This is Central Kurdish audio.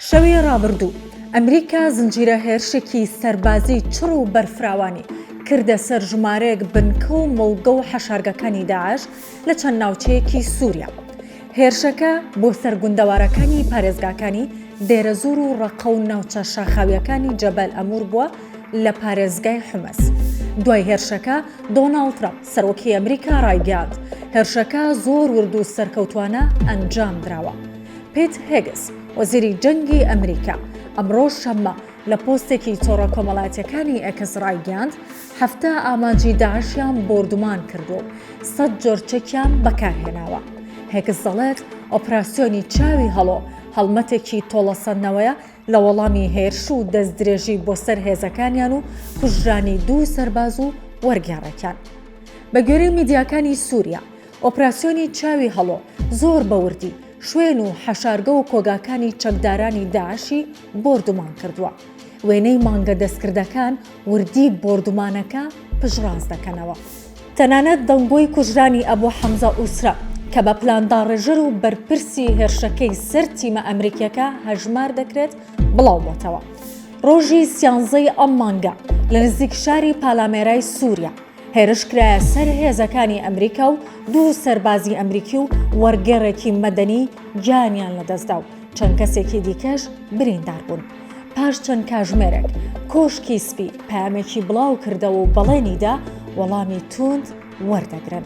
شەوی ڕابردوو ئەمریکا زنجیرە هێرشێکی سەربازی چڕ و بەرفراوانی کردە سەر ژمارەیەک بنکە و مۆڵگە و حەشارگەکانی داعش لە چەند ناوچەیەکی سووریا. هێرشەکە بۆ سەر گوندەوارەکانی پارێزگاکانی دێرەزوور و ڕەقە و ناوچە شاخاوییەکانی جەبەل ئەموور بووە لە پارێزگای حومس. دوای هێرشەکە دۆناڵد ترەمپ، سەرۆکی ئەمریکا ڕایگەیاند، هێرشەکە زۆر ورد و سەرکەوتووانە ئەنجامدراوە. پیت هێگس، وەزیری جەنگی ئەمریکا ئەمڕۆ شەممە لە پۆستێکی تۆڕە کۆمەڵاتیەکانی ئێکس ڕایگەیاند، حەفتا ئامانجی داعشیان بۆردومان کردووە و سەد جۆر چەکیان بەکارهێناوە. هێگس دەڵێت، ئۆپراسیۆنی چاوی هەڵۆ هەڵمەتێکی تۆڵەسەندنەوەیە لە وەڵامی هێرش و دەستدرێژی بۆ سەر هێزەکانیان و کوژرانی دوو سەرباز و وەرگێڕێکیان. بەگوێرەی میدیاکانی سوریا، ئۆپراسیۆنی چاوی هەڵۆ زۆر بە وردی شوێن و حەشارگە و کۆگاکانی چەکدارانی داعشی بۆردومان کردووە. وێنەی مانگە دەستکردەکان وردی بۆردومانەکە پشتڕاست دەکەنەوە. تەنانەت دەنگۆی کوژرانی ئەبو حەمزە ئوسرە کە بە پلانداڕێژەر و بەرپرسی هێرشەکەی سەر تیمە ئەمریکییەکە هەژمار دەکرێت بڵاو بۆتەوە. ڕۆژی سیانزەی ئەم مانگە لە نزیک شاری پالامێرای سووریا هێرش کرایە سەر هێزەکانی ئەمریکا و دوو سەربازی ئەمریکی و وەرگێڕێکی مەدەنی گیانیان لەدەستدا و چەند کەسێکی دیکەش بریندار بوون. پاش چەند کاژمێرێک کۆشکی سپی پامێکی بڵاو کردەوە و بەڵێنیدا وەڵامی توند وەردەگرن.